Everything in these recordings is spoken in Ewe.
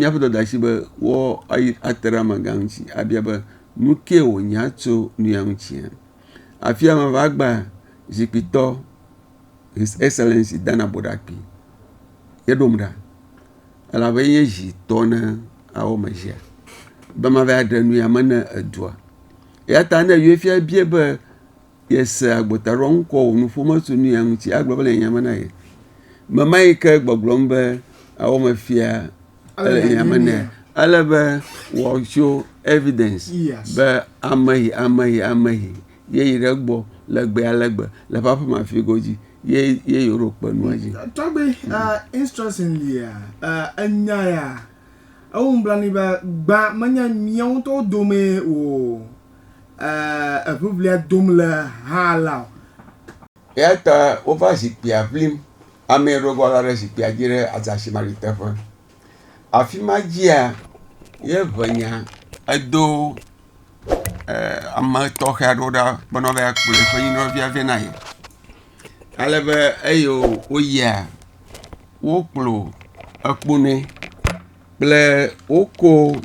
míaƒe dɔdeasi be woate ɖe amegã ŋuti abia be nu kae wònya tso nu ya ŋutia? Afia mava gbea, zikpuitɔ, His Excellency Dana Boɖakpi ye ɖom ɖa elabe ye nye zi tɔ na awɔmezia be mava ɖe nu ya me na edua. Eya ta ne efia biae be. yese agbotaɖoaŋ kɔ wò nuƒo me tso nuya ŋuti agblɔ be le nya me na ye. Me ma yi ke gbɔgblɔm be awɔ me fia ele nya me nɛ. Ale be wɔtso evidence be ameyi ameyi ameyi ye yi ɖe gbɔ le gbe ale gbe le ƒe aƒe ma fi godzi ye ye yi ɖo kpe nua dzi. Tɔgbe uh, instruction lia uh, enya ya ewu nublanui be gbã menye miawo ŋutɔwo dome o. eŋiŋlia dom le hã la o. Eya ta wova zikpuia ʋlim. Amee ɖo eŋua la ɖe zikpuia dzi ɖe azasimali teƒe. Afi ma dzia, ye ŋenya edo ame tɔxe aɖewo ɖa bene woakplɔ eƒe nyimlɔvi vɛ na ye. Ale be eye woyia, wokplɔ ekpo nɛ. kple woko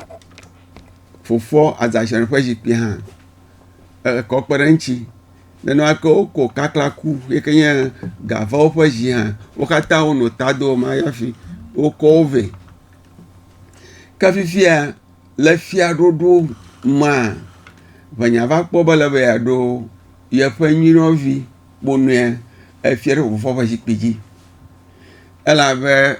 fofoa azazel ƒe zikpui hã ekɔ kpe ɖe eŋuti. Nenemake woko kaklaku yi ke nye Gavawo ƒe zi hã. Wo katã wonɔ ta do ma hafi wokɔ wo vɛ. Ke fifia le fiaɖuɖu mea ŋenya va kpɔ be ele be yeaɖo yeƒe nyinɔvi kponɔe efia ɖe fofoa ƒe zikpui dzi elabe.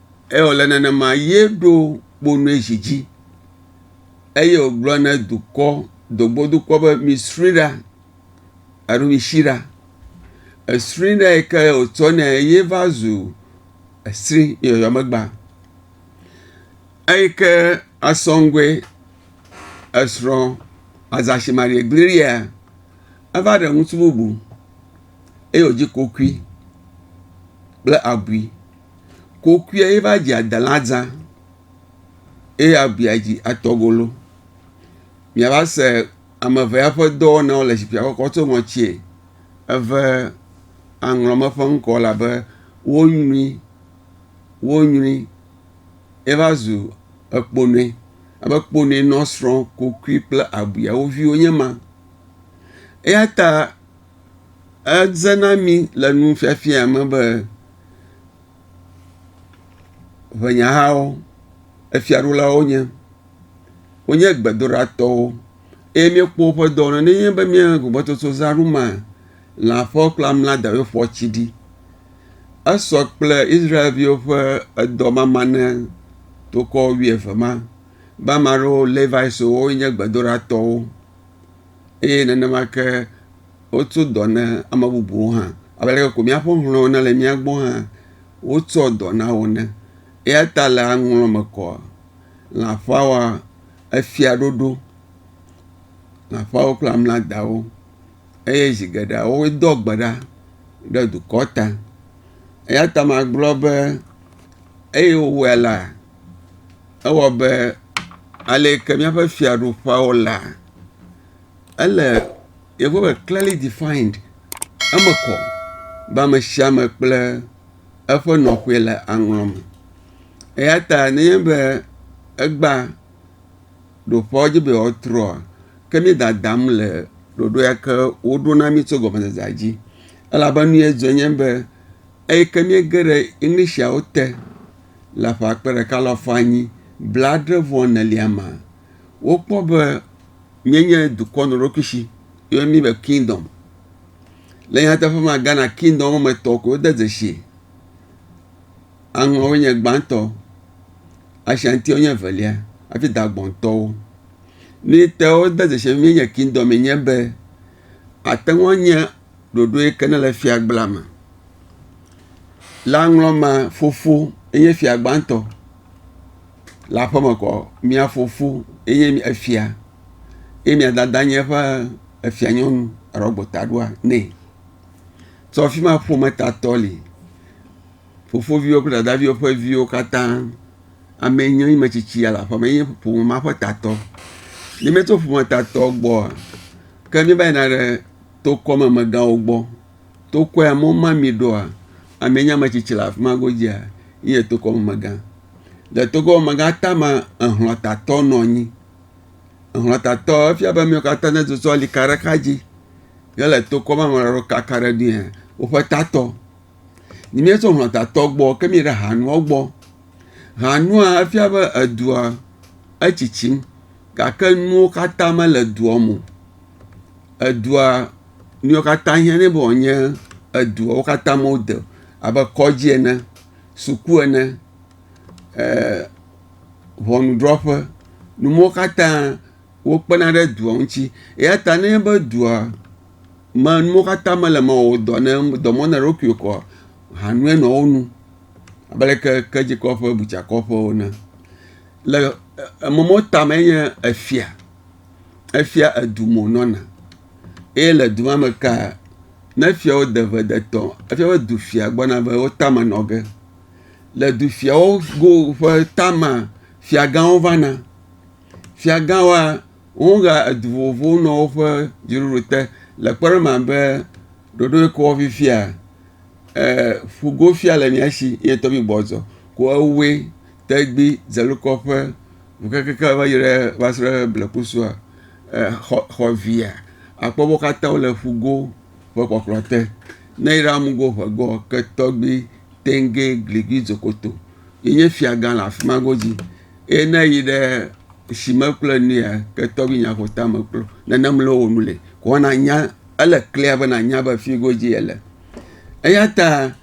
Eye wòle nenema ye ɖo kponue zi dzi, eye wògblɔ ne dukɔ, dogbodukɔ be misri ɖa, alo misi ɖa. Esri ɖa yi ke wòtsɔ nɛ ye va zu esri yɔyɔ megba. Eyi ke asɔŋgoe esrɔ̃ Azasi Marie Gliria, eva ɖe ŋutsu bubu eye wòdzi kokui kple abui. Kokuiɛ ye va dzi adela dzã eye avia dzi atɔgolo. Mìava se ame eve ya ƒe dɔwɔnawo le zikpuia gbɔ kɔ tso ŋɔtsie eve aŋlɔme ƒe ŋkɔ elabe wonyrui wonyrui ye va zu ekponɛ abe kponɛ nɔ srɔ̃ kokui kple avia wo viwo nye ma. Eya ta Eze na mí le nufiafia me be ŋɛnyahawo efiaɖulawo nye. Wonye gbedoɖatɔwo eye míekpɔ woƒe dɔ ne míenye be míaƒe gbɔgbɔtsotso zã ɖum maa lã ƒe kple amla dawo ƒe tsi ɖi. Esɔ kple Israelviwo ƒe edɔ mama ne tokɔ wuieve ma be ame aɖewo Leviwo nye gbedoɖatɔwo. eye nenema ke wotso dɔ na ame bubuwo hã. Abe ale ko míaƒe hlɔ̃wo nele mía gbɔ hã wotsɔ dɔ na wo ene. Eya ta le aŋlɔ me kɔa, lãfawa efia ɖoɖo, lãfawo kple amladawo eye zi geɖe woe doa gbe ɖa ɖe dukɔ ta. Eya ta magblɔ be eye wowɔe la, ewɔ abe ale yi ke míaƒe fiaɖuƒeawo lea. ele yevuwo me kleli difayind. Eme kɔ be ame sia ame kple eƒe nɔƒe le aŋlɔ me. Eya ta nenye be egbea ɖoƒe dzi be yewoatrɔa ke mí dadam le ɖoɖo ya ke woɖo na mí tso gɔmedzedzea dzi elabe nu ye dzɔ nye be eyi ke míege ɖe Englishtiawo te le ƒe akpe ɖeka alafa anyi blade vɔ enelia mea. wokpɔ be míenye dukɔ nɔɖoɖokui si yɔna mí be kingdom. Le nyateƒe me Ghana kingdom me tɔ ko wode dzesi. Aŋɔwoe nye gbãtɔ, Ashantiwo nye evelia hafi Dagbɔntɔwo. Nu yi te wode dzesi be míenye kingdom me nye be ate ŋu anye ɖoɖo yi ke nele fiagblea me. Le aŋlɔ mea fofo enye fia gbãtɔ. le aƒe me kɔ, mia fofo enye efia eye mia dada nye eƒe efianyɔnu alo agbotaɖoa nɛ. Tso afi ma ƒometatɔ li. Fofoviwo kple dadaviwo ƒe viwo katã ame enye wo nye ame tsitsi ya le aƒe me enye ƒome ma ƒe tatɔ. Ne míetso ƒometatɔ gbɔ ke míeva yina ɖe tokɔmemegãwo gbɔ. Tokɔ ya mɔ mamee ɖoa ame enye ame tsitsi le afi ma godzia enye tokɔmemegã. Le togbewomegã tame ehlɔ̃tatɔ nɔ anyi. Ehlɔ̃tatɔ efia be amewo katã ne susɔ li ka ɖe exa dzi hele to kpɔm be ame aɖewo kaka ɖe edzi hã woƒe tatɔ. Ne míetso hlɔ̃tatɔ gbɔ ke míeyi ɖe hanua gbɔ. Hanua efia be edua etsitsim gake nuwo katã mele edua me o. Edua nuwo katã hiã ɖe be wòanye eduawo katã me wode abe kɔdzi ene. suku ene, ee ŋɔnudrɔƒe, nu mawo katã wokpena ɖe dua ŋuti. Eya ta ne enye be dua me nu mawo katã mele eme o, wɔ dɔ ne dɔ mɔ na eɖokuiwo koa, hanue nɔ wo nu abe ale ke kedzikɔƒe, butsakɔƒe ene. Le eme mawo tame enye efia. Efia edu me wònɔna eye le du ma me kea. Ne fiawo de ʋe de tɔ efia be du fia gbɔna be wo tame nɔ ge. Le du fiawo go ƒe tama fiagãwo vana. Fiagãwoa wohea edu vovovowo nɔ woƒe dziɖuɖu te le kpɔɖeŋu abe ɖoɖoɖyɔwo fifia e ƒugofia le mía si ye tɔgbi gbɔzɔ ko ewoe tɔgbi zelukɔ ƒe ŋu kekeake va yi ɖe va se ɖe blekusua. xɔ xɔ via akpɔ be wo katã wole ƒugo ƒe kpɔkplɔ te. Ne eyra amugo ƒegɔ ke tɔgbi tɛnge gligbi dzokoto yi nye fiagã le afi ma godzi eye ne yi ɖe sime kple nua ke tɔgbi nyaƒota me kple nane mlɔ wo nu le ko nanya ele klia be nanya be fi godzi yele. Eyata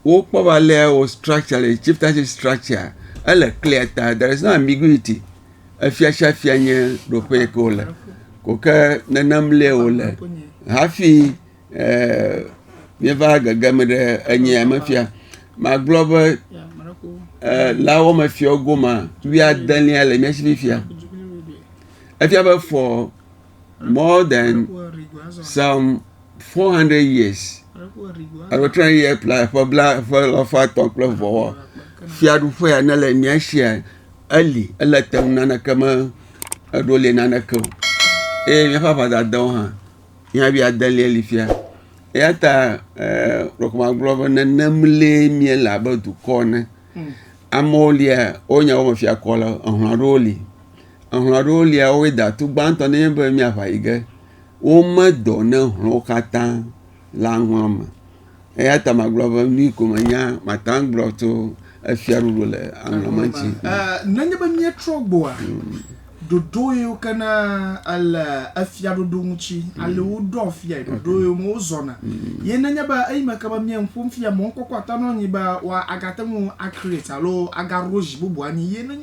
wokpɔ be alea wɔ structure le chieftainship structure ele clear ta there is no ambiguity efia sia fia nye nɔƒe yi ke wole ko ke nenem lae wòle hafi ee míeva gege me ɖe enyia me fia. Magblɔ be ee le woame fiawo gomea wuiadelia le mía si fifia efia be fɔ. more than some 400 years alo try year plus ƒe bla ƒe lɔfa tɔ̃ kple vɔwɔ fiaɖuƒe ya ne le mía sia eli ele te ŋu naneke me eɖo li naneke o eye míaƒe aʋadadawo hã mía bi adelia li fia eya ta e rɔk magblɔ be nenem lee míele abe dukɔ ene amewo lia wo nyawo me fiakɔ le ehlɔ̃ aɖewo li Ehlɔ̃ aɖewo lia woawoe da. Tu gbãtɔ ne nye be miaʋa yi ge. Wome dɔ ne hlɔ̃wo katã le aŋlɔ̃ me. Eya ta magblɔ be nu ko menya mate ŋu agblɔ tso efiaɖuɖu le aŋlɔ̃ me ŋuti. Nenye be míetrɔ gbɔa, ɖoɖo yiwo ke na le efiaɖuɖu ŋuti ale woɖoa fiae, ɖoɖo yiwo me wozɔna ye nenye be eyi me ke be mía nu ƒom fia mɔkpɔkpɔ ate ŋu anyi be woa agate ŋu a create alo agaɖo zi bubu anyi ye nenye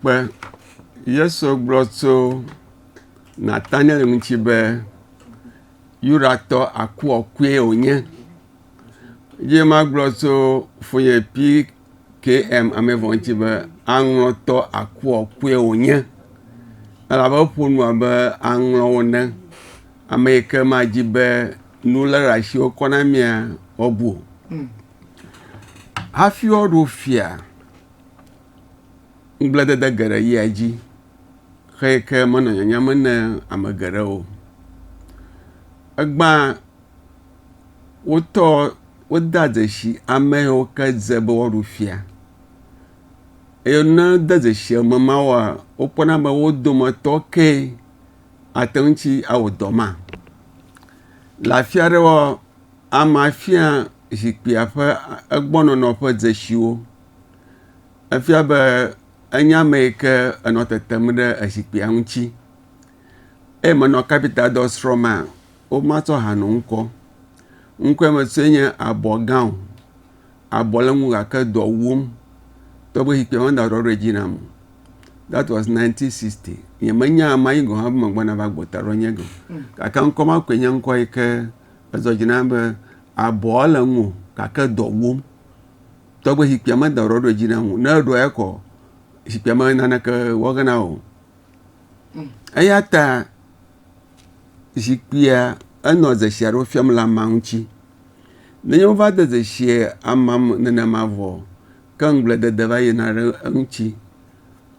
Kpe. Yesu gblɔ tso Nataniel ŋuti be Yudatɔ akuɔkue wònye. Ye magblɔ tso fonye PKM amevɔ ŋuti be aŋlɔtɔ akuɔkue wònye. Elabe eƒo nu abe aŋlɔwo ne. Ame yi ke madzi be nu lé ɖe asi wokɔ na mia, woabu o. Hafi woaɖo fia, ŋugbledede geɖe yia edzi xeyi ke menɔ nyanyam ne ame geɖe o. Egbea wotɔ wodea dzesi ame yiwo ke dze be woaɖu fia eye ne wode dzesi ame mawoa wokpɔna be wo dometɔ ke ate ŋuti awɔ dɔ ma. Le afi aɖewoa. Amea fia zikpuia ƒe egbɔnɔnɔ ƒe dzesiwo. Efia be enye ame yi ke enɔ tetem ɖe ezikpuia ŋuti eye menɔ kapitadɔ srɔ̃mea, womatsɔ ha nɔ ŋkɔ. Ŋkɔe me sɔe nye abɔ gã o. Abɔ le eŋu gake dɔ wuwom togbɔ be zikpuia meda ɖɔɖɔe dzi nam o. That was nineteen sixty. Nyemenya amea yi gɔ̃ hã be megbɔna va gbɔta ɖe enye o gake ŋkɔ ma koe nye ŋkɔ yi ke. Ezɔ dzi nam be abɔa le ŋuwò gake dɔ wɔm. Tɔgbe zikpuia me da ɖɔ ɖo dzi nam o. Ne eɖɔe kɔ zikpuia me naneke wɔ ge na wò. Hmm. Eya ta zikpuia enɔ dzesi aɖewo fiam le amea ŋuti. Nenye wova de dzesi amea me nenema vɔ ke ŋugbledede va yina ɖe eŋuti.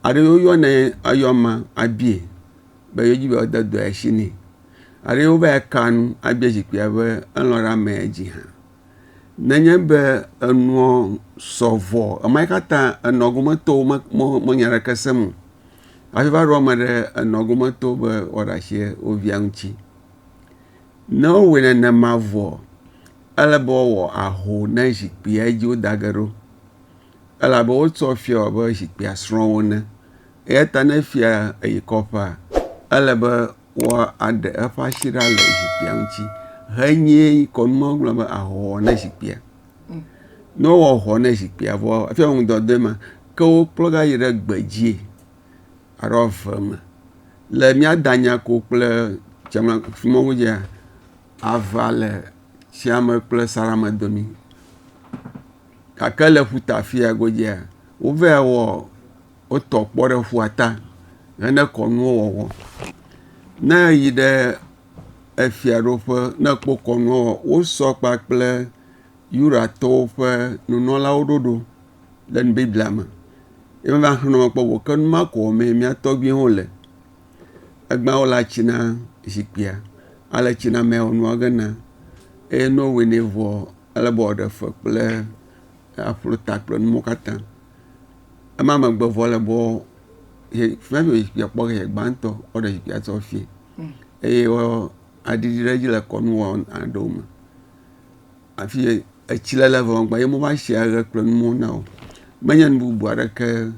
Ale woyɔnɛ eyɔma abie be yewodi be woade dɔe asi nɛ. Aɖee wova ya ka nu abe zikpuia be elɔ̃ ɖe ame dzi hã. Nenye be enuɔ sɔ vɔ ema katã enɔ gome tɔwo me me me nya ɖeke sem o. Hafi va ɖo ame ɖe enɔ gome to be woaɖe asi wo via ŋuti. Ne wowɔe nenema vɔ ele be woawɔ aho ne zikpuia dzi woda ge ɖo elabe wotsɔ fia wɔ abe zikpuia srɔ̃wo ene. Eya ta ne fia eyi kɔƒea ele be woa aɖe eƒe asi ɖa le zikpuia ŋuti henye kɔnu ma wogblɔ be ahɔhɔ ne zikpuia. Ne wowɔ hɔ ne zikpuia vɔ efia be ŋdɔ de eme ke wokplɔ va yi ɖe gbedzie alo ave me. Le mía danya ko kple tsema sumɔwo dzia ave le tseme kple salame domi gake le ƒuta afi ya godzia wova wɔ wotɔ kpɔ ɖe ƒua ta hene kɔnuwo wɔwɔ. Ne eyi ɖe efiaɖuƒe ne ekpɔ kɔnuwo wɔwɔ wosɔ kpakple Yudatɔwo ƒe nunɔlawo ɖoɖo le Biblia me. Ye wova xlɔ̃ kpɔ vɔ ke nu ma ko wɔm mía tɔgbuiwo le. Egbea wo le atsi na zikpuia ale tsi na mea wonɔa ge na eye ne wowɔe nɛ vɔ ale be wòaɖe fe kple aƒlo ta kple nuwo katã. Ema megbe vɔ le bɔ ye fiafi be zikpuia kpɔ ye gbãtɔ woɖe zikpuia tsɔ fiɛ. Eye wɔ aɖiɖi ɖe edzi le kɔnu wɔ aɖewo me. Afi ye etsi le le vɔ ŋgba ye mova shi aɖe kple nuwo na o. Menye nu bubu aɖeke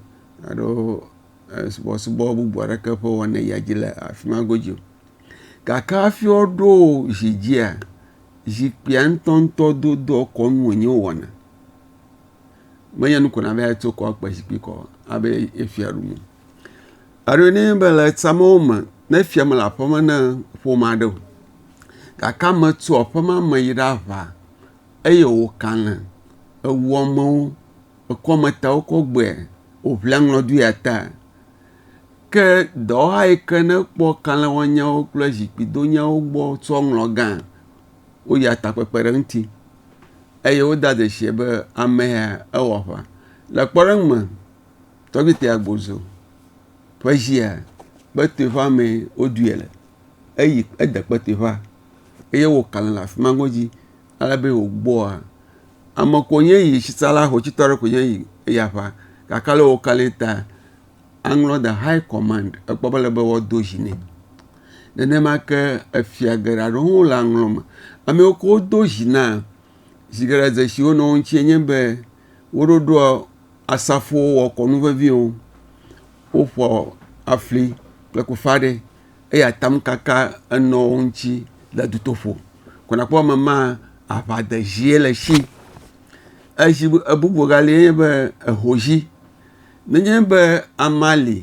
alo e subɔsubɔ bubu aɖeke ƒe wɔna yia dzi le afi ma godzi o. Gake hafi woɖo zi dzia zikpuia ŋtɔŋtɔ dodoa kɔnu wonye wowɔna. Menye nu ko na be tso kɔ kpe zikpui kɔ abe ye fia ɖum o. Alo ne be le amewo me ne fia mele aƒe me na ƒome aɖe o gake ame tso aƒe ma me yi ɖe aʋa eye wokale ewu amewo ekɔ ame tawo kɔ gbɔe woŋlia aŋlɔ ɖi ya ta ke dɔwɔha yi ke ne kpɔ kale wɔnyawo kple zikpui donyawo gbɔ tsɔ ŋlɔ gã. woyia takpekpe ɖe eŋuti eye wode dzesi be amea ewɔ aʋa. Le kpɔɖeŋu me, Tɔgbite Agbozo ƒe dzia, kpetoeƒea mee woɖoe le. Eyi ede kpetoeƒea eye wokalẽ le afi ma godzi ale be wògbɔa, ame ko nye yi, tsitsala xotsitɔ aɖe koe nye yi eyi aƒa gake ale wokalẽe ta aŋlɔ the high command ekpɔ be ele be woado dzi nɛ. Nenema ke efia geɖe aɖewo hã wo le aŋlɔ me. Ame yiwo ke wodo dzi na zi geɖe dzesi wo nɔ wo ŋuti enye be wo ɖoɖoa asafowo wɔ kɔnu vevi wo. Woƒoa afli kple koƒeaɖe eye atamkaka enɔ wo ŋuti le dutoƒo. Ko nakpɔ be ame ma aŋa de dzie le esi. Ezi bubu ebubu ga li enye be ehodzi. Nenye be amea li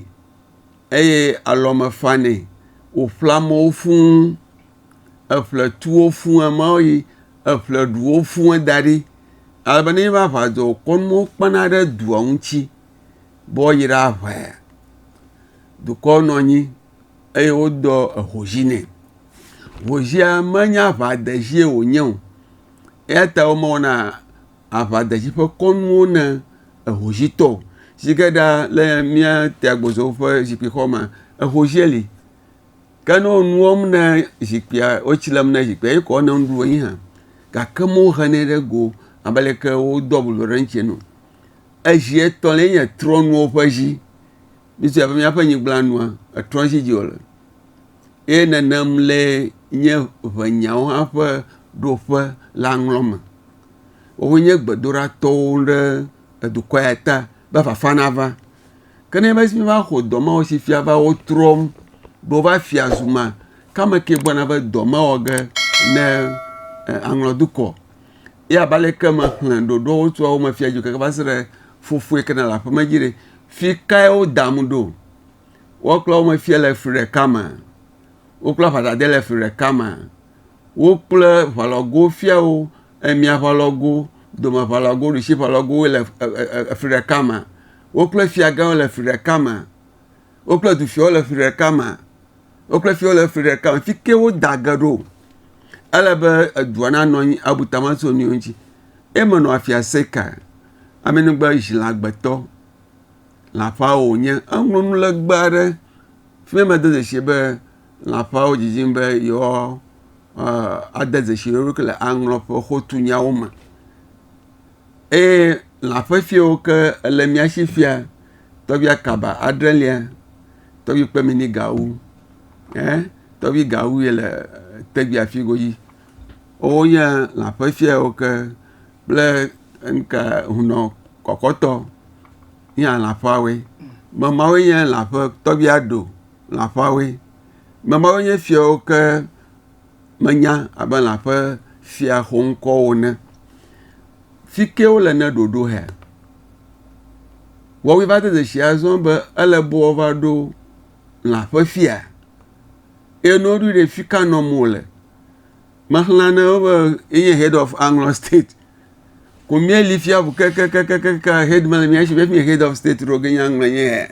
eye alɔ me fanɛ wòƒle amewo fũ, eƒle tu wo fũ eme yi eƒle ɖu wo fũ da ɖi ale be nenye be aʋa dzɔ wòkɔ nuwo kpena ɖe dua ŋuti be woayi ɖe aʋae. Dukɔ nɔ anyi eye wodɔ ehozi nɛ. Hozia menye aʋadezi wònye o eya ta womewɔna. aʋadetsi ƒe kɔnuwo na ehoshitɔ si ke ɖa le mía te agbɔsɔsɔ ƒe zikpui xɔ me. Ehoshie li ke ne wole nu wɔm na zikpuia wo tsi lem na zikpuia eye wokɔ eŋu ɖo anyi hã gake me wohe nɛ ɖe go abe ale ke wodo abu ɖe eŋuti ene o. Ezi etɔ̃lia nye trɔnuwo ƒe zi. Míese abe míaƒe nyigba nua etrɔzi dzi wole ye nenem lee nye ŋenyawo hã ƒe ɖoƒe la ŋlɔm me. Wonye gbedoɖatɔwo ɖe edukɔ ya ta be fafa nava. Ke ne enye be woaxɔ dɔ ma wɔ si fia va wotrɔm be wova fia zu ma, ke ame kae gblɔ na be dɔ mawɔ ge ne aŋlɔ dukɔ? Ye abe ale ke mexlẽ ɖoɖoawo tso wo me fiae keke va se ɖe fofo yi ke nele aƒe me dzi ɖe, fi kae wodam ɖo? Woaklɔ wo me fia le fli ɖeka mea? Woklɔ aʋadade le fli ɖeka mea? Wò kple ʋalɔgo fiawo, emia ʋalɔgo, domeʋalɔgo, ɖusiʋalɔgowoe le fli ɖeka me. Wò kple fiagãwo le fli ɖeka me. Wò kple dufiawo le fli ɖeka me. Wò kple fiawo le fli ɖeka me. Fike woda ge ɖo. Ele be edua nanɔ anyi abu tame ase wo nɔewo ŋuti. Ye menɔ afia Seka, Amenugbe Zilagbetɔ, le aƒeawo wònye. Eŋlɔ nulegbe aɖe. Fi ma mede dzesi be. lãƒeawo didim be yewoade dzesi wo ɖokui le aŋlɔƒe xotunyawo me eye lãƒe fi yi ke le mía si fia, tɔgbi akaba adre lia, tɔgbi kpemini gawu ɛɛ tɔgbi gawu ye le tɛgbi afi godzi. Wonye lãƒe fi yi ke kple ŋka hunɔ kɔkɔtɔ ye lãƒeawoe. Mamawoe nye lãƒe tɔgbi aɖo. lã ƒe awoe. Ame mawo nye fiawo ke menya abe lã ƒe fia xoŋkɔwo ene. Fi ke wole ne ɖoɖo hea? Wɔwɔe va de dzesi azɔ be ele be woava ɖo lã ƒe fia. Eye ne woɖoe ɖe fi ka nɔm wole. Mexlẽ ne be enye head of aŋlɔ state. Ko míeli fia ŋu kekekekeke head mele mía si be efi nye head of state ɖo ge nye aŋlɔ nye hea?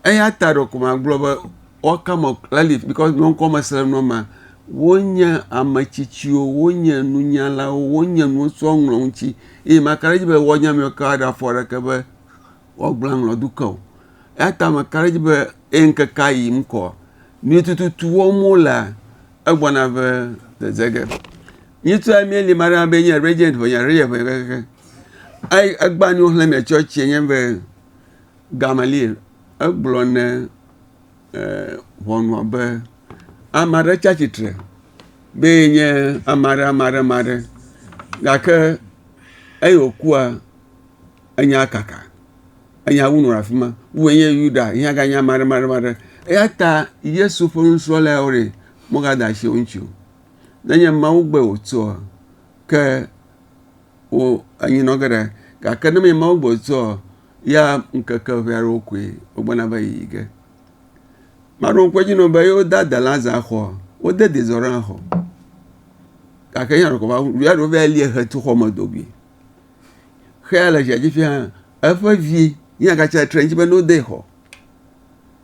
Eya ta ɖe ko magblɔ be what kind of caliphs because nye ŋkɔ mesrem nɔ ma wonye ame tsitsiwo wonye nunyalawo wonye nuwo sɔ ŋlɔ ŋuti eye maka ɖe edzi be woanya ame ka aɖe afɔ aɖeke be woagblẽ aŋlɔ do ke o eya ta meka ɖe edzi be eye ŋkekea yiyim kɔ nu yi tututu wɔm wo lea egbɔna be dzedze ge mi ŋutɔ ya mieli me aɖe be enye regent ʋenya regent ʋenya kekeke egba nuwo xlẽ mia tsɔ tsie nye be Gamaliel, egblɔ ne ʋɔnua be, ame aɖe tsi atsitre be yenye ame aɖe, ame aɖe, ame aɖe, gake eyi wòkua, enya kaka, enya wu nɔ le afi ma, wu enye Yuda yi hã ganye ame aɖe, ame aɖe, ame aɖe. Eya ta Yesu ƒe nusrɔ̃lawo ɖi megade asi wo ŋuti o. Nenye Mawu gbɔe wòtsoa, ke wo enyi nɔ ge ɖe gake ne menye Mawu gbɔe wòtsoa, ya ŋkeke ʋɛ aɖewo koe wogbɔna va yiyi ge. Maɖo ŋkue dzi nɔ be yewo da de laza xɔ, wode de zɔ ɖe xɔ. Gake ya ɖeko va wu via ɖeko va lia he to xɔ me do goe. Xe ya le zia dzi fia eƒe vi ya gatsi atsitre ɖe edzi be no de xɔ.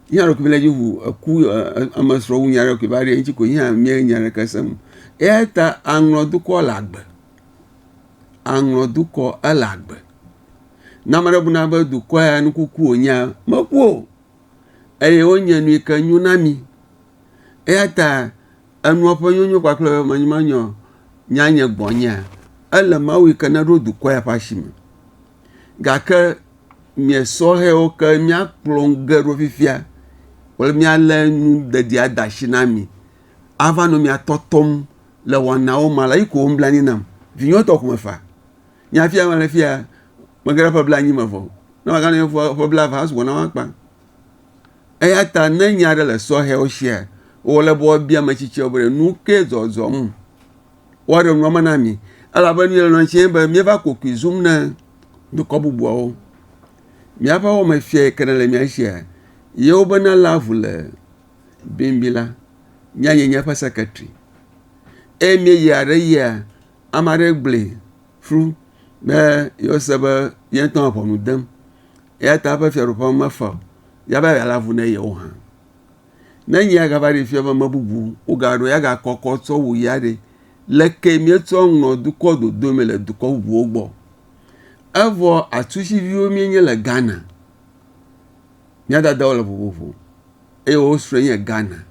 Ya ɖeko va le edzi wu eku ame srɔ wu nya ɖe koe va ɖi eŋtsi koe ya mia nya ɖeke sem. Eya ta aŋlɔ dukɔ le agbe. Aŋlɔ dukɔ ele agbe. Ne ame aɖe buna be dukɔ ya nu kuku wònyea, meku o. Eye wonye nu yi ke nyo na mi. Eya ta enua ƒe nyonyo kpakple be menyemenyɔ nya nye gbɔnyea, ele Mawu yi ke neɖo dukɔ ya ƒe asi me. Gake nye sɔhɛwo ke míakplɔ nu ge ɖo fifia kple míalé nu dedia de asi na mi ava nɔ mia tɔtɔm le wɔnawo me ale yi ko wonblanui nam. Vinyewo tɔ ko mefaa. Nye hafi ya mele fia mege ɖe ƒe blaenyi me vɔ o. Ne maganɔ anyi ƒe blaeve hã sugbɔ na woakpa. Eya ta ne nya aɖe le sɔhɛwo sia, wòle be woabia ame tsitsiawo be nu ke zɔzɔm woaɖe nua me na mi elabe nu yelɔ̃ tse be míeva kokoe zum na dukɔ bubuawo. Míaƒe wɔmefia yi ke nele mía sia ye wobena léa ŋu le bimbi la. Nyee nye eƒe sekretari eye míeyia ɖe yia ame aɖe gblɔe ƒu be yease be ye ŋutɔ le ʋɔnu dem eya ta eƒe fiaɖuƒea mefa o ya be yealé avu na ye o hã. Ne nye ya gava ɖee fia be ame bubu wogaɖo eya gakɔ kɔ tsɔ wu ya ɖe, leke míetsɔ ŋlɔ dukɔ dodo me le dukɔ bubuwo gbɔ? Evɔ atusiviwo míenye le Ghana. Mía dadawo le vovovo eye wo srɔ̃e nye Ghana.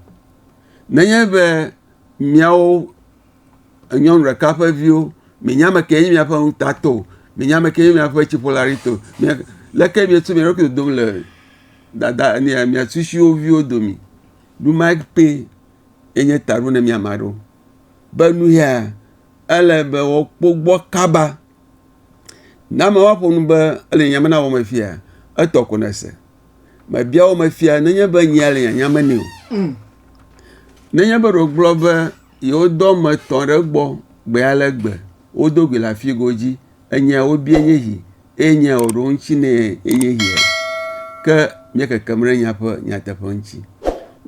Nenye be míawo nyɔnu ɖeka ƒe viwo, mienye ame kee nye miaƒe ŋutatɔ o, mienye ame kee nye miaƒe tsiƒolaɖitɔ o. Leke mietu mia ɖokui dodom le dada nia mia susuewo viwo dome. Nu ma kpee enye taɖo na mi ame aɖewo be nu ya ele be woakpɔ gbɔ kaba. Ne ame woaƒo nu be ele nya me na wò ame fia etɔ ko nèse. Mebia wò ame fia nenye be nyea le nyanya me nɛ o. Nenye be ɖe wogblɔ be. yewo do ame etɔ̃ ɖe egbɔ gbe ale gbe. Wodo gui le afi godzi. Enya ya wobia enye esi eye nya ya wòɖo ŋuti nɛ enye esia. Ke mía kekem ɖe nya ƒe nyateƒe ŋuti.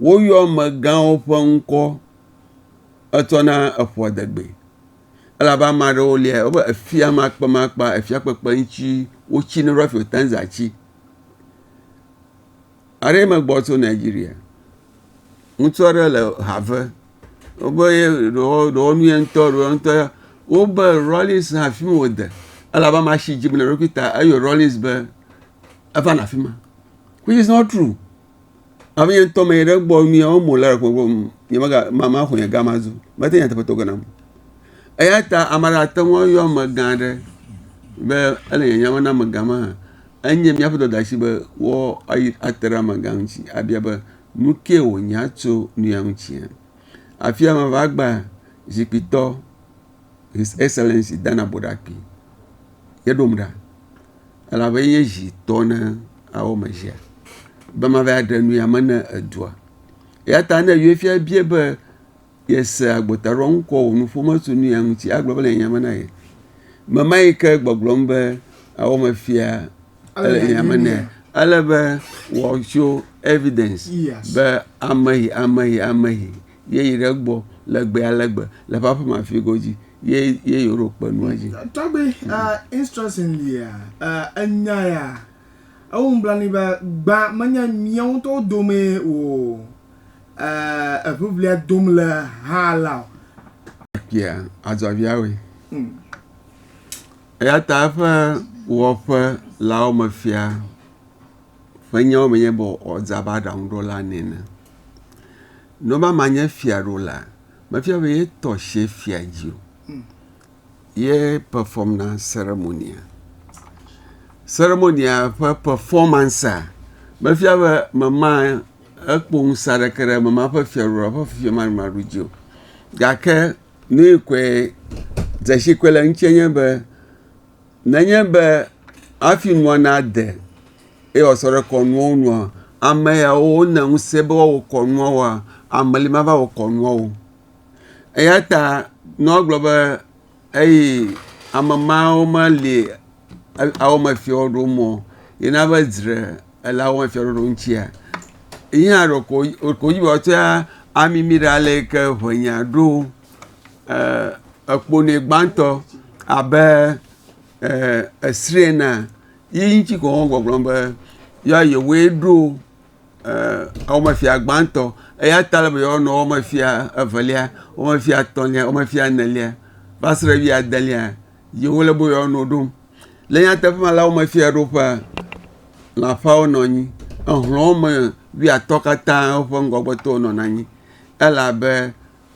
Woyɔ amegãwo ƒe ŋkɔ etsɔ na eƒoadegbee. Elabe ame aɖewo lia wobe efiamakpemakpa, efiakpekpe ŋuti wotsi ne ɖo hafi wote ŋu zã tsi. Aɖe me gbɔ tso Nigeria. Ŋutsu aɖe le ha ve. Wobe ye ɖewo ɖewo nu ye ŋutɔ ɖewo ŋutɔ ye. Wobe Rawlings hã afi ma wòde elabe amea si dzim le eɖokui ta eyɔ Rawlings be eva nɔ afi ma which is not true. Abe ye ŋutɔ me yi ɖe egbɔ nua wɔm wòle le gbɔgblɔm nyemega maxɔ nye gama zu mete nyateƒe tɔ ge nam o. Eya ta ame aɖe ate ŋu ayɔ amegã aɖe be ele nye nya me na amegã ma hã. Enye míaƒe dɔdeasi be woate ɖe amegã ŋuti abia be, Nu kae wònya tso nuya ŋutia? Afia meva gba zikpuitɔ His Excellency Dan Aboɖakpe ye ɖom ɖa elabe ye nye zi tɔ na awɔme sia be mava ɖe nuya me na edua. Eyata ne Uefa biae be, Yese agbotaɖoaŋ kɔ wò nuƒo me tso nuya ŋuti agblɔ be le nya me na ye. Mema yi ke gbɔgblɔm be awɔ me fia ele nya me nɛ. Ele be wɔtso evidence be ameyi ameyi ameyi ye yi ɖe gbɔ le gbe ale gbe le ƒe aƒe me afi godzi ye ye yi ɖo kpe nua dzi. Tɔgbe uh, instruction lia uh, enya ya ewu nublanui be gbã menye miawo ŋutɔwo dome o. eh, eŋiŋlia dom le ha la o. Kpia azɔviawoe. Hmm. Eya ta eƒe wɔƒe lawo me fia ƒe nyawo menye be ɔdza be aɖaŋuɖola nene. Ne ɔba ma nye fia ɖo la, mefia be yetɔ se fia dzi o. Hmm. Ye perform na seremonia. Seremonia ƒe performance mefia be mema ekpɔ ŋusẽ aɖeke ɖe eme ma ƒe fiaɖuɖu alo eƒe fiameɖumeɖu dzi o. Gake nu yi koe dzesi koe le eŋuti nye be nenye be hafi nua nade eye wòasɔ ɖe kɔnua ŋu nua, ame yawo wonye ŋusẽ be woawɔ kɔnua woa, ame li mava wɔ kɔnua o. Eya ta nua gblɔ be. eyi ame mawo ma li awo me fiɔ ɖo mɔ yi na be dzre ele awo me fiɔ ɖoɖo ŋtsia, yi hã ɖe ko ko dzi be woa tsɔa ami mi ɖe ale yi ke ŋe nya ɖo e ekpo nɛ gbãtɔ abe e esri enea, yi ŋtsi ko wo gbɔgblɔm be yɔa yewoe ɖo wɔmefia gbãtɔ eyata ele be yewoa nɔ wɔmefia evelia, wɔmefia etɔ̃lia, wɔmefia enelia va se ɖe wuiadelia ye wo le be yewoa nɔ wo ɖom. Le nyateƒe me la wɔmefia ɖoƒea lã ƒeawo nɔ anyi. Exlɔ wɔme wuiatɔ̃ katã woƒe ŋgɔgbetɔwo nɔna anyi elabe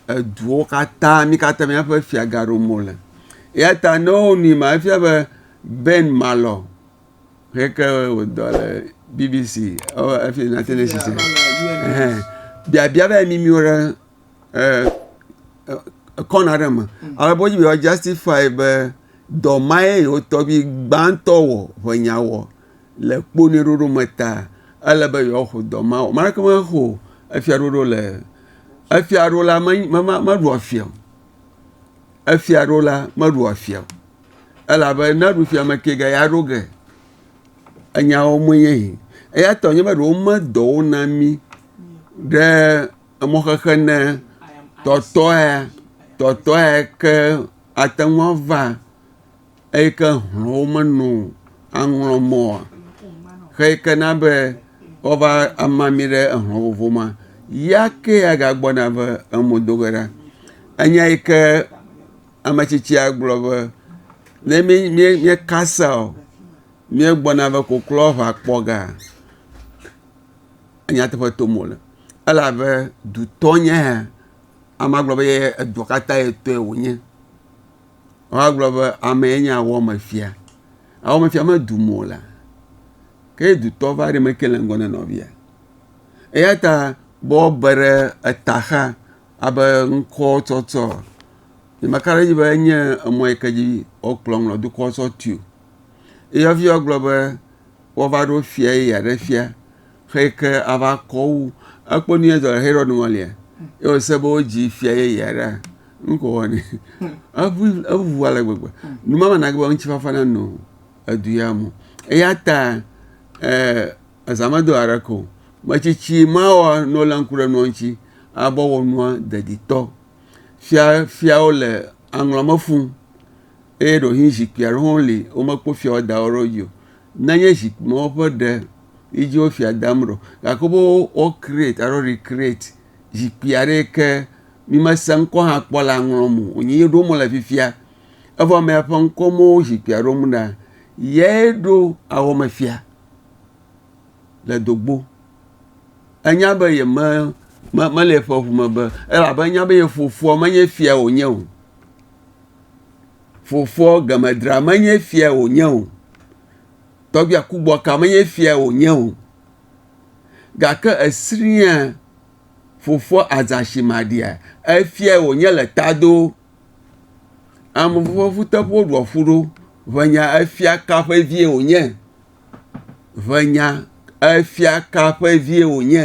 eduwo katã mi katã miaƒe fia gaɖom wo le. Eyata ne wonui ma efia be Ben Malɔ. Heke wɔ dɔ le BBC ɔ efi United Nations ɛhɛ biabia va yi mimi wo ɖe ɛ ekɔnu aɖe me ale be wodzi be yewoa ʒɛstifai be dɔ ma ye yewo tɔgbi gbãtɔ wɔ ŋe nya wɔ le kpo ne ɖoɖo me ta ele be yewoa xɔ dɔ ma wɔ. Ame aɖeke mexɔ efiaɖuɖu le efiaɖula me me meɖua fia o. efia ɖo la meɖu efia o elabe ne eɖu fia ame ke ga ya ɖo ge enyawo me ye yi eya tɔ nye be ɖewo medɔ wo na mi ɖe emɔ xexe ne tɔtɔa tɔtɔa ke ate ŋu ava eyi ke hlɔ̃wo meno o aŋlɔ mɔ oa? Xeyi ke na be woava ama mí ɖe ehlɔ̃ vovo ma, ya ke agagbɔna va eme do ge ɖa. Enya yi ke ame tsitsia gblɔ be ne mí mí míekasa o míegbɔna va koklo va kpɔ ga nyateƒe tom wole elabe dutɔ nye ya. Amea gblɔ be ye edua katã ye tɔe wonye. Woagblɔ be amee nye awɔmefia. Awɔmefia medu mo o la, ke dutɔ va ɖi meke le ŋgɔ na nɔvia. Eya ta be wobe ɖe eta xa abe ŋkɔ tsɔtsɔ eye meka ɖe edzi be enye emɔ yi ke dzi wokplɔ ŋlɔ dukɔ tsɔ tui o. Eyɔvi gblɔ be woava ɖo fia ye yeaɖe fia. Xeyi ke ava kɔ wu ekpɔ nu yɛ zɔ le Herod ŋɔ lia, ye wòse be wodzi fia yeye aɖe a, nu ko wɔ nɛ. Eʋu eʋu ale gbegbe. Nu ma mana be ŋutifafa nanɔ edu ya me o. Eya ta eh, eza medo aɖeke o. Metsitsi mawɔ ne wolé ŋku ɖe nua ŋuti ale be wɔ nua deditɔ. Fia fiawo le aŋlɔ me fũu eye ɖewohĩ zikpui aɖewo hã li womekpɔ fiawo da wo ɖe wo dzi o. Nenye zikpuiwo ƒe ɖe yi dzi wo fia dam ɖo, gake wobe wo create alo recreate zikpui aɖe yi ke mi me se ŋkɔ hã kpɔ la ŋlɔm o. Wonye ye ɖom wole fifia. Evɔ ame ya ƒe ŋkɔ me wo zikpuia ɖom ɖa. Yae ɖo awɔ me fia le dogbo. Enya be ye me me le eƒe ŋu me be elabe enya be ye fofoa menye fia wonye o. fofoa gemedra menye fia wònye o, tɔgbia kugbɔka menye fia wònye o, gake esrĩa fofoa Azaximaɖia, efia wònye le tado. Ame fofo ƒe ƒuteƒewo ɖua ƒu ɖo, ʋenya efia ka ƒe vie wònye, ʋenya efia ka ƒe vie wònye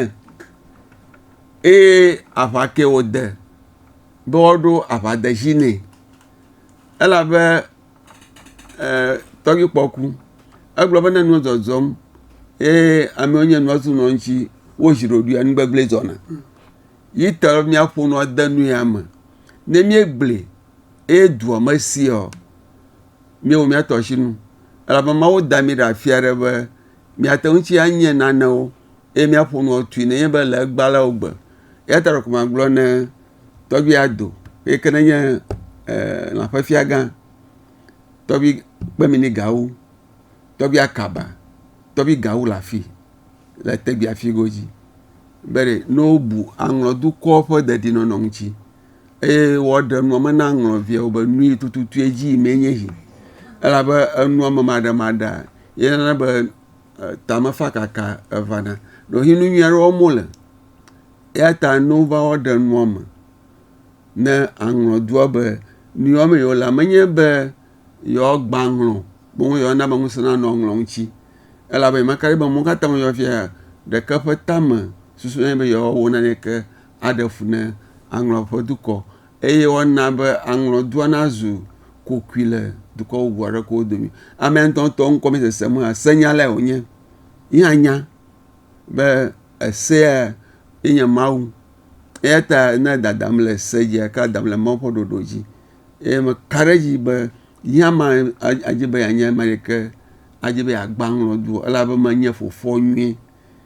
eye aʋa kee wòde. be woaɖo aʋadedzi nɛ elabe ee tɔgbuikpɔ ku. Egblɔ be ne nua dzɔdzɔm eye amewo nye nua zu nɔ eŋuti wozi ɖoɖoe enu gbegblẽ dzɔna. Yi ta míaƒo nua de nu ya me. Ne míegblẽ eye dua me seɔ, míewɔ míatɔ si nu elabe Mawu da mí ɖe afi aɖe be míate ŋuti anye nanewo. eye míaƒo nu atui nenye be le egbea la wogbe. Eya ta ɖeko magblɔ ne tɔgbui ya do eyi ke nenye e lã ƒe fiagã, tɔgbui kpeminigawo, tɔgbui akaba, tɔgbui gawo le afi le tegbea fi godzi be ɖe ne wobu aŋlɔ dukɔ ƒe dedienɔnɔ ŋuti eye woaɖe nua me na aŋlɔ viawo be nu yi tututue dzi yimee nye esi. Elabe enuamemademaɖea yeyɔna be tamefakaka evana. Ɖewohĩ nu nyui aɖe wɔm wole. Eya ta ne wova ɔɖe nua me ne aŋlɔ dua be nu yi wɔm wolea, menye be yewoagbã aŋlɔ o, boŋ yewoana be ŋusẽ nanɔ aŋlɔ ŋuti elabe nya ka ɖi be mɔ ka ta ŋu yewɔ fiaa, ɖeke ƒe tame susua be yewoawɔ naneke aɖe fu na aŋlɔ ƒe dukɔ Eye woana be aŋlɔdua nazu kokoe le dukɔ bubu aɖewo dome. Ame ŋutɔŋutɔ ŋkɔ mesesem o hã, senyalae wònye. Ye hã nya be esea enye Mawu. Eya ta ne dadam le se dzia, eka dadam le Mawu ƒe ɖoɖo dzi. Eye meka ɖe edzi be yea ma adi be yeanye ame yi ke adi be yeagbã aŋlɔdu o elabe menye fofoa nyuie.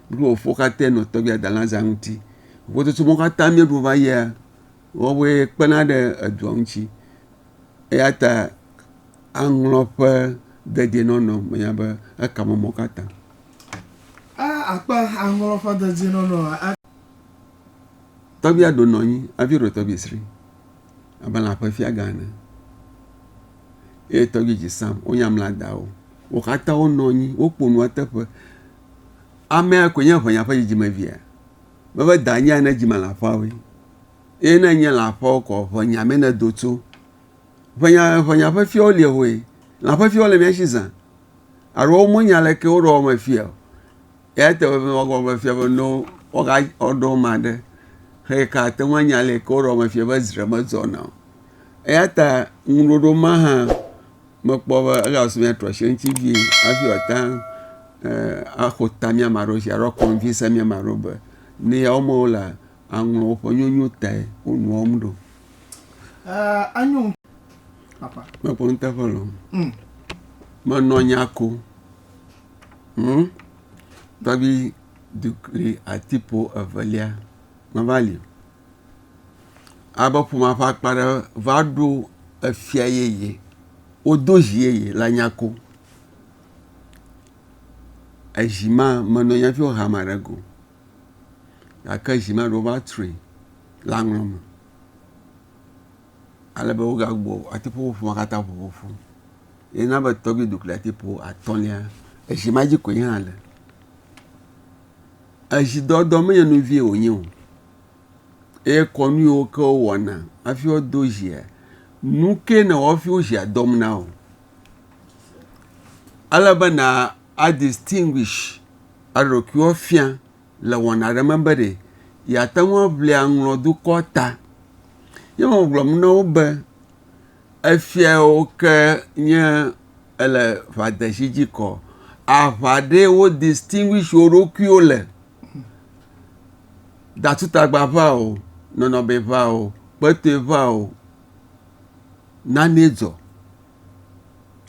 Mí kple fofoa katã nɔ tɔgbia dalã zã ŋuti. Vovototo ma katã míeɖo va yia, Woawoe kpena ɖe edua ŋuti eya ta aŋlɔ ƒe dedienɔnɔ menye be eka mɔ mɔ ka ta. A Akpe aŋlɔ ƒe dedienɔnɔ a. Tɔgbia ɖo nɔ anyi hafi ɖo tɔgbi sri abe lã ƒe fiagã ene eye tɔgbi dzi sam wonya mla dawo. Wo katã wonɔ anyi woƒo nua teƒe. Amea koe nye ŋenya ƒe dzidzimevi ya. Be ƒe da nye ya ne dzi me le aƒea woe. Eye ne enye le aƒea wo kɔ ƒe nya me ne do tso. Ƒe nya ƒe nya ƒe fiawo lie hoe. Lã ƒe fiawo le mía si zã. Alo wo mo nya le ke wo ɖɔ me fia. Ya te wo wa gɔ me fia be no wo ga wo ɖɔ ma ɖe. Xe ka te ŋu nya le ke wo ɖɔ me fia be zre me dzɔ na. Eya ta ŋuɖoɖo ma hã mekpɔ be ele abe mía trɔ asi ɖe eŋuti vie hafi woate ŋu aƒo ta mía ame aɖewo dzi alo akɔnvinse mía ame aɖewo be ne yewoa me wolea, aŋlɔ woƒe nyɔnyo tae wo nu wɔm ɖo. Mekpɔ nuteƒe lɔ. Mm. Menɔ nya ko. Hm? Tɔgbi dukli atipo evelia. Meva li. alebe ƒomea ƒe akpa aɖe va ɖo efia yeye, wodo zi yeye la nya ko. Ezi ma menɔ anyi hafi wohe ame aɖe go o gake zi ma ɖewo va tri le aŋɔ me alebe woga gbugbɔ ate ŋu aƒo ƒomea katã ƒo ƒoƒu. Ye na be tɔgbui dukliatifu atɔ̃lia ezi ma dzi koe nye hã le. Ezidɔdɔ menye nu vɛ̃e wònye o. eye kɔnu yiwo ke wowɔna hafi woado dzia, nu ke nɔ wɔm hafi wo dzia dɔm na wò. Ele be na a distinguish eɖokuiwo fia le wɔna aɖe me be ɖe yeate ŋu aŋli aŋlɔ dukɔ ta. Ye megblɔ na wo be efia yiwo ke nye ele ŋadezi dzi kɔ aŋa ɖee wo distinguish wo ɖokuiwo le. datutagba ŋa o nɔnɔme ŋa o kpɔtɔe ŋa o nane dzɔ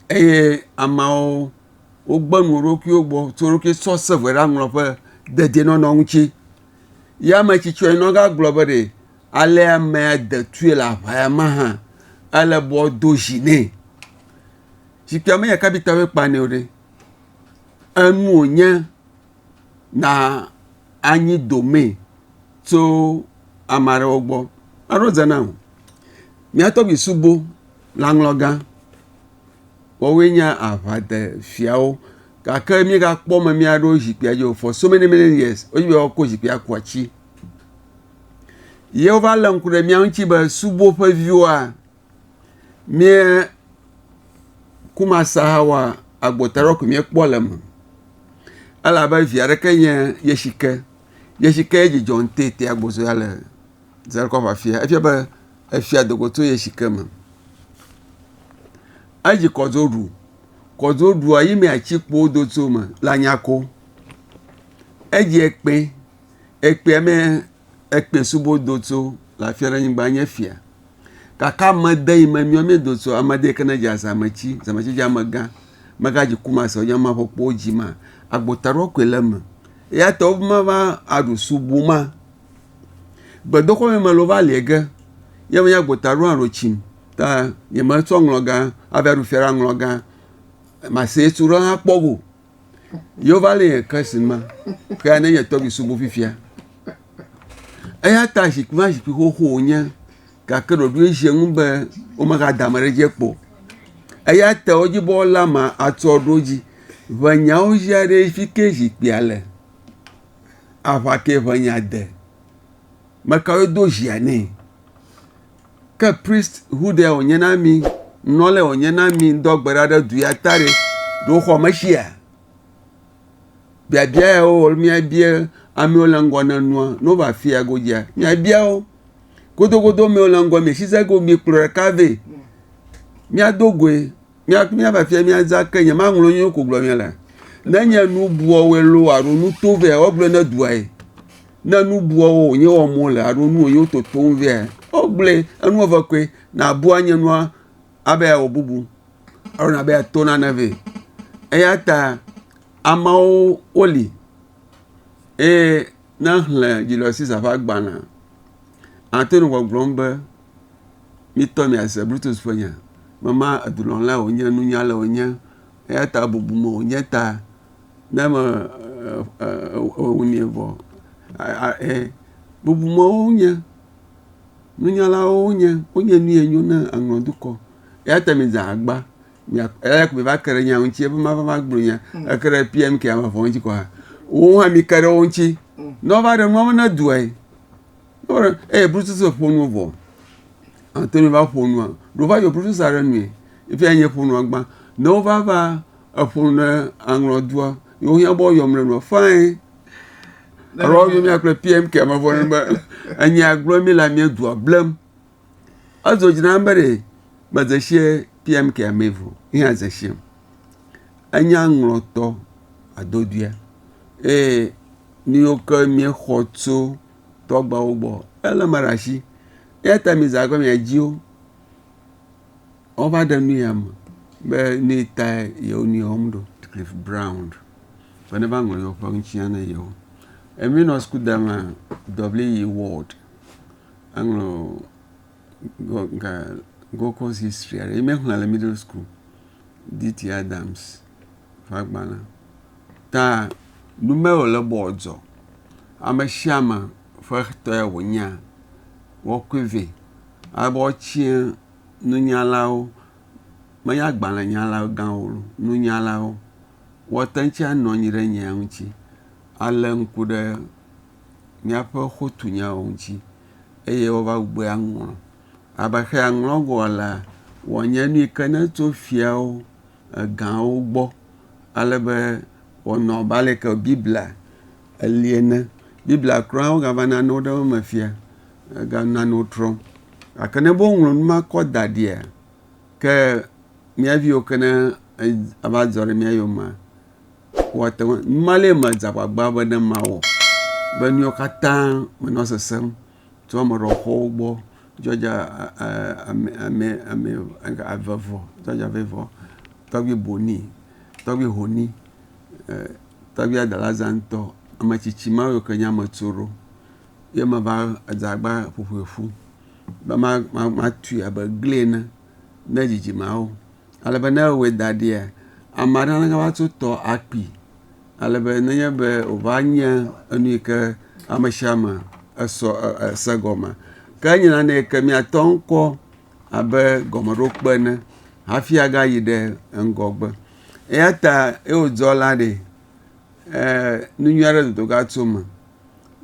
eye ameawo wogbe nu ɖe wo ɖokuiwo gbɔ tsɔ wo ɖokui tsɔ se ve ɖe aŋlɔƒe dedienɔnɔ ŋuti ye ame tsitsɔe ne eva gblɔ be ɖe ale amea detui le aʋa ya me hã ele be woado zi nɛ zikpuia menye kapitawo kpanɛ o ɖe enu wonye na anyi domee tso ame aɖewo gbɔ. Eɖo dze nam mía tɔgbui subo lãŋlɔgã woawoe nye aʋadefiawo gake mígakpɔ ame mía ɖewo zikpuia dzi o for so many many years wodzi be woakɔ zikpuia ku atsi ye wova lé ŋku ɖe mía ŋuti be suboƒeviwoa. Mía kumasahawa agbɔta ɖe ko míekpɔ le eme elabe vi aɖeke nye Yesike. Yesike ye dzidzɔ ŋtete agbɔsɔsɔ ya le Zakoa ƒe afia. Efia be efia do go tso Yesike me. Edzi kɔdzoɖu. Kɔdzoɖua yi me atikpowo do tso me le anyako. Edzi ekpe. Ekpea me ekpe subo do tso le afia ɖe anyigba enye fia. Gake amede yi me míɔ míedo so amede yi ke ne dze azametsi, zametsi dze amegã, megadzi kumasɔ nye maƒe kpowo dzi ma, agbo taɖɔ koe le eme. Eya ta womava aɖu subu ma. Gbedoxɔ me mele wova liɛ ge. Ye menye agbo taɖɔ aɖo tsim ta nyemetsɔ ŋlɔgã ava ɖu fia ɖe aŋlɔgã masetu ɖe hã kpɔ go. Yeova le Christ ma, kea ne nye tɔgbi subu fifia. Eya ta zikpui ma zikpui xoxo wònye, gake ɖoɖoe dze ŋu be womegada ame ɖe dzi kpɔ. Eya ta wodzibɔla ma atsɔ ɖo dzi. Ʋe nyawo dzia ɖe fi ke zikpuia le. Aʋa ke ʋe nya de. Mekawoe do zia nɛ. Ke prist hudɛ o nye na mi, nɔlɛ o nye na mi ŋdɔ gbe ɖa ɖe du ya ta ɖe, ɖo xɔ me shia? Biabia ya wo mi abia ame wo le ŋgɔ ne nua, ne wo va fia go dzia, mi abia wo. Godogodo mi wo le ŋgɔ mi shi se go mi kplɔ ɖeka vɛ, mi ado goe. Míava fia míaza ke nye maŋlɔ nyuie ko gblɔ míele. Ne nye nu buɔwoe lo alo nu to vɛ wogblɔe ne duae. Ne nu buɔwo wònye wɔm wole alo nu wònye wototom vɛ wogblɔe. Enu eve koe nàbua nye nua abe yeawɔ bubu alo nàbe yeato nane vɛ. Eya ta ameawo woli eye ne èxlẽ Julius Caesar ƒe agbalẽa, àte ŋu gbɔgblɔm be Mitɔ miase Brutus ƒe nya be ma edulɔ̃lae wònye, nunyalae wònye, eya ta bubu me wònye ta ne me ewunɛ vɔ aa e bubumewo wonye, nunyalawo wonye, wonye nu yɛ nyo ne aŋlɔ dukɔ. Eya ta midze agba mia eya ko miva ke ɖe nya ŋuti be mava va gblɔ nya. Eke ɖe PMK wɔwɔ ŋuti kɔa wowo hã mike ɖe wo ŋuti ne wova ɖe nua me na dua ye. Wole eye blutuse ƒo nu vɔ. Ate ŋu va ƒo nua. Ɖe wova yɔ blutuse ɖe nue. Efia nye ƒo nua gbã. Ne wova va eƒo nu ɖe aŋlɔ doa, ye wohiã be woyɔm le nua fine. Alo woyɔ mía kple PMK me vɔ ne be enya gblɔ mi la mía dua blem. Edzo dzi nam be ɖe medze sie PMK mee vɔ. Ye hã dze siem. Enya ŋlɔtɔ adodoea eye nu yiwo ke míexɔ tso tɔ agbawo gbɔ. Ele eme ɖe asi. Eya ta mi zã be miadzi wo. Wova ɖe nu ya me be nu yi ta yewo nu ya wɔm ɖo. Cliff Brown be neva ŋlɔ yewo ƒe ŋuti na yewo. Emi nɔ suku da mea W.E. Ward eŋlɔ Gold Coast History aɖe ye mexlẽ le middle school. D.T. Adams. ƒagbalẽ ta nume wòle be wòadzɔ, ame sia ame ƒe tɔe wònyea, woakɔe vɛ. Alebe woatsia nunyalawo, menye agbalẽnyala gãwo o, nunyalawo. Woate ŋu tsɛ anɔ anyi ɖe nya ŋuti alé ŋku ɖe míaƒe xotunyawo ŋuti eye woava gbugbɔe aŋlɔ. Alebe exiɛ aŋlɔ vɔ alea, wòanye nu yi ke netso fiawo. egãwo gbɔ ale be wɔnɔ abe ale yi ke Biblia eli ene. Biblia kura wogava nanewo ɖe wo me fia ega nanewo trɔm. Gake ne be woŋlɔ nu ma kɔ da ɖia ke mía viwo ke ne eva dzɔ ɖe mía yomea woate ŋu nu ma le medzea agbagba be ne mawɔ be nu yiwo katã menɔ sesem tso ame ɖewo ƒe xɔwo gbɔ Georgia ame ame ame eve vɔ Georgia ƒe vɔ tɔgbi Bonny tɔgbi Honey e tɔgbi Adelaza ŋutɔ ame tsitsi ma yiwo ke nye ame tsoro ye meva edze agba ƒoƒoe ƒu be ma ma matui abe egli ene ne dzidzimeawo. ale be ne ewɔe da ɖia, ame aɖe aleke va tso tɔ akui ale be nenye be wòva nye enu yi ke ame sia ame esɔ ese gɔmea ke enye nane yi ke míatɔ ŋkɔ abe gɔmeɖokpe ene hafi agayi ɖe ŋgɔgbe. Eya ta ye wodzɔ la ɖi e nu nyui aɖe dodo va tso eme.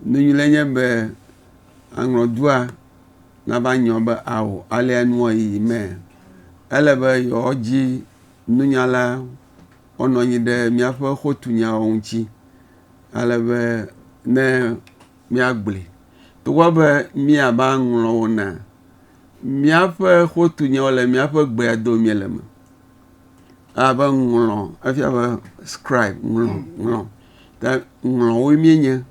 Nu nyui le nye be aŋɔdua. nava nyɔ be ao alea nua yiyi mɛ. Ele be yewoadzi nunyala wonɔ anyi ɖe míaƒe xotunyawo ŋuti ale be ne míagblɔe. Togbɔ be míava ŋlɔ wo na míaƒe xotunyawo le míaƒe gbea dom mí le me abe ŋlɔ efia be skribe ŋlɔ ŋlɔ ta ŋlɔwoe míenye.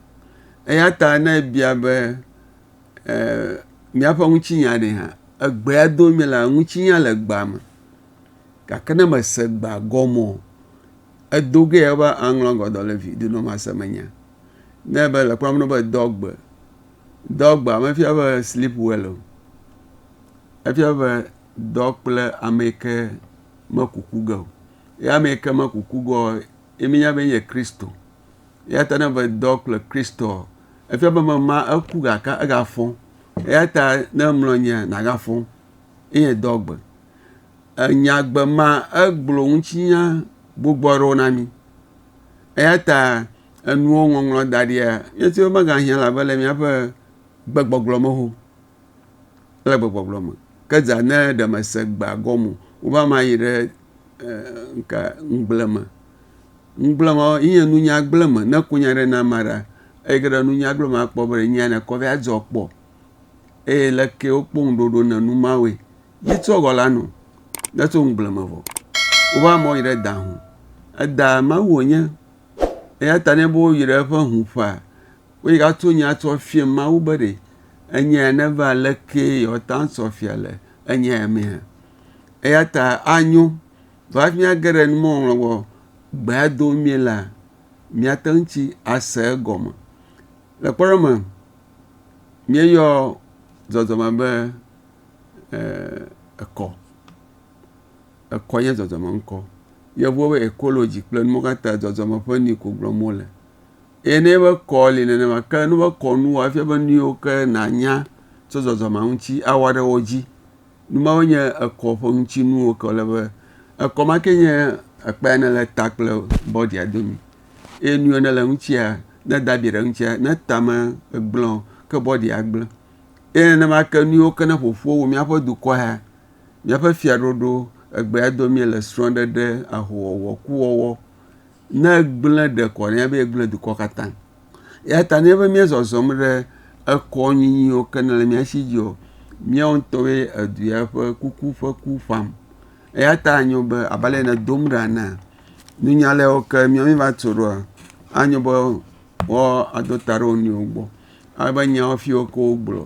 Eya ta ne ebia be. míaƒe ŋutinya ɖe hã. Egbea dom míele, ŋutinya le egbea me gake ne mèse egbea gɔme o, edo ge ya be aŋlɔ agbadɔ le vi do na wò mase menya. Ne ebe le kpɔam ɖo be do agbe, do agbe mefia be sleep well o. Efia be dɔ kple ame yi ke meku ku ge o. Ye ame yi ke meku ku ge o ye míenya be enye Kristo. Eya ta ne be dɔ kple Kristoa Efia be ame ma eku gake egafɔ. Eya ta ne emlɔ nyia, nàgafɔ. Eye dɔ gbe. Enyagbe ma egblɔ ŋutinya gbogbo aɖewo na mi. Eya ta enuwo ŋɔŋlɔ da ɖia, míete ŋu megahiã la be le míaƒe gbegbɔgblɔ me ho. Ele gbɔgblɔgblɔ me. Ke dza ne ɖe mese gbea gɔme o, wobe ama yi ɖe ŋka ŋugble me. Ŋugble me yi nye nunya gble me ne kunya ɖe na ma ɖa eyi ke ɖe nunya gble me akpɔ be nya ne kɔ be ya dzɔ kpɔ. Eye le ke wo kpoŋ ɖoɖo ne nu ma woe. Yi tsɔ gɔ la nu ne tso ŋugble me vɔ. Wobe ama yi ɖe da ŋu. Eda mawu wonye. Eya ta ne bo yi ɖe eƒe ŋu ƒa Wòyi ɖato nya sɔ fiɛ Mawu be ɖe enya ya neva aleke yewoata ŋu sɔ fia le enya ya mea. Eya ta anyo be hafi míage ɖe numɔŋlɔ gbɔ gbea do mí la, míate ŋu tsi ase egɔme. Le kpɔɖeŋu me, míeyɔ zɔzɔme be eh, ekɔ. Ekɔ nye zɔzɔme ŋkɔ. Yevuwo be ecology kple numɔwo katã zɔzɔme ƒe nui ko gblɔm wole. Eye ne ebe kɔ li nenema ke ne ebe kɔnu wɔa efia be nu yiwo ke nànya tso zɔzɔmea ŋuti awa ɖe wo dzi. Nu mawo nye ekɔ ƒe ŋutinuwo ke wòle be ekɔ ma ke nye ekpe yi ne le ta kple bɔdia domi eye nu yi ne le eŋutia ne eda abi ɖe eŋutia ne ta megblẽ o ke bɔdia gblẽ. Eye nenema ke nu yiwo ke ne ƒoƒu wu míaƒe dukɔ ya, míaƒe fiaɖuɖu egbea dom míele srɔ̃ɖeɖe, ahowɔwɔ, kuwɔwɔ. Ne egblẽ ɖe kɔ ɖe be egblẽ dukɔ katã. Ya ta ne be mía zɔzɔm ɖe ekɔ nyinyiwo ke ne le mía si dzi o, mía ŋutɔ be edu ya ƒe kuku ƒe ku ƒam. Eya ta anyo be abe ale ne dom ɖa na nunya le wo ke mía mi va tso ɖoa, anyo be wo ado ta ɖe wo nɔewo gbɔ. Ale be nyawo fiwo ke wo gblɔ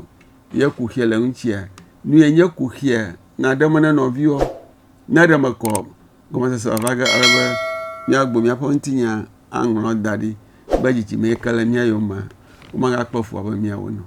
ye kuxi le eŋutia, nu ye nye kuxia na ɖe me na nɔviwo ne ɖe mekɔ. gɔmesese wòava ge ale be míagbugbɔ míaƒe ŋutinya aŋlɔ da ɖi be dzidzime yi ke le mía yome womagakpɔ fu abe míawo ene o.